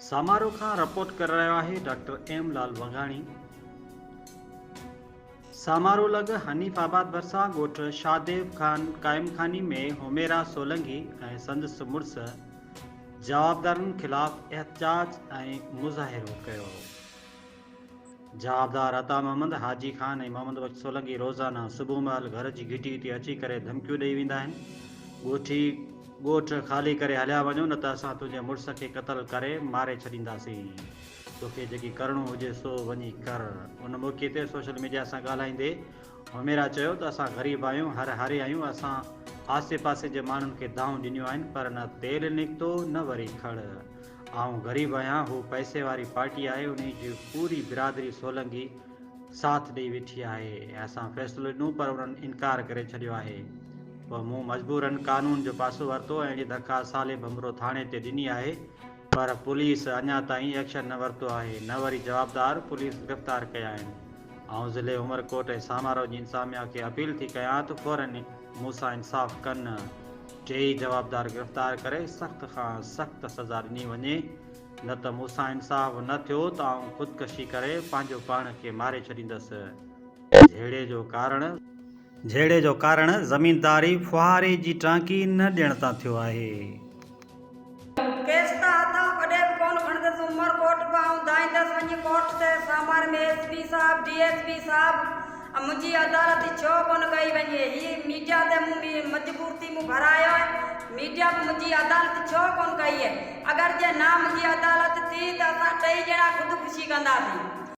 سامارو کان رپورٽ ڪري رهيو آهي ڊاڪٽر ايم لال وگاڻي. سامارو لڳ حنيف آباد ڀرسان ڳوٺ شاهديو خان قائم خاني ۾ حميرا سولنگي ۽ سندس مڙس جوابدارن خلاف احتجاج ۽ مظاهرو ڪيو. جوابدار عطا محمد، حاجي خان ۽ محمد بخش سولنگي روزانه صبح مهل گهر جي گهٽيء تي اچي ڪري ڌمڪيون ڏيئي ويندا آهن. ڳوٺي ڳوٺ خالي ڪري هليا وڃو نه ته اسان تنهنجي مڙس کي قتل ڪري ماري ڇڏينداسين. توکي جيڪي ڪرڻو هجي سو وڃي ڪر. ان موقعي تي سوشل ميڊيا سان ڳالهائيندي حميرا چيو ته اسان غريب آهيون، هر هاري آهيون، اسان آسي پاسي جي ماڻهن کي دانهون ڏنيون آهن پر نه تيل نڪتو نه وري کڙ. آئون غريب آهيان هو پئسي واري پارٽي آهي انهي جي پوري برادري سولنگي ساٿ ڏئي ويٺي آهي ۽ اسان فيصلو ڏنو پر انهن انڪار ڪري ڇڏيو آهي پوء مون مجبورن قانون جو پاسو ورتو ۽ اهڙي درخواست صالح ڀنڀرو ٿاڻي تي ڏني آهي پر پوليس اڃا تائين ايڪشن نه ورتو آهي نه وري جوابدار پوليس گرفتار ڪيا آهن آئون ضلعي عمرڪوٽ ۽ سامارو جي انتظاميا کي اپيل ٿي ڪيان ته فورن مون سان انصاف ڪن. ٽيئي جوابدار گرفتار ڪري سخت کان سخت سزا ڏني وڃي نه ته مون سان انصاف نه ٿيو ته آئون خودڪشي ڪري پنهنجو پاڻ کي ماري ڇڏيندس جهيڙي جو ڪارڻ جهيڙي جو ڪارڻ زمينداري ڦوهاري جي ٽانڪي نه ڏيڻ تان ٿيو آهي. ڪيس ته هٿان ڪڏهن به ڪونه کڻندس، عمر ڪوٽ به آئون ڌائيندس، وڃي ڪوٽ تي سامار ۾ ايس پي صاحب، ڊي ايس پي صاحب ۽ منهنجي عدالت ڇو ڪونه ڪئي وڃي، هي ميڊيا تي مون مجبور ٿي مون ڀرايو آهي، ميڊيا به منهنجي عدالت ڇو ڪونه ڪئي اهي، اگر جي نه منهنجي عدالت ٿي ته اسان ٽئي ڄڻا خودڪشي ڪنداسين.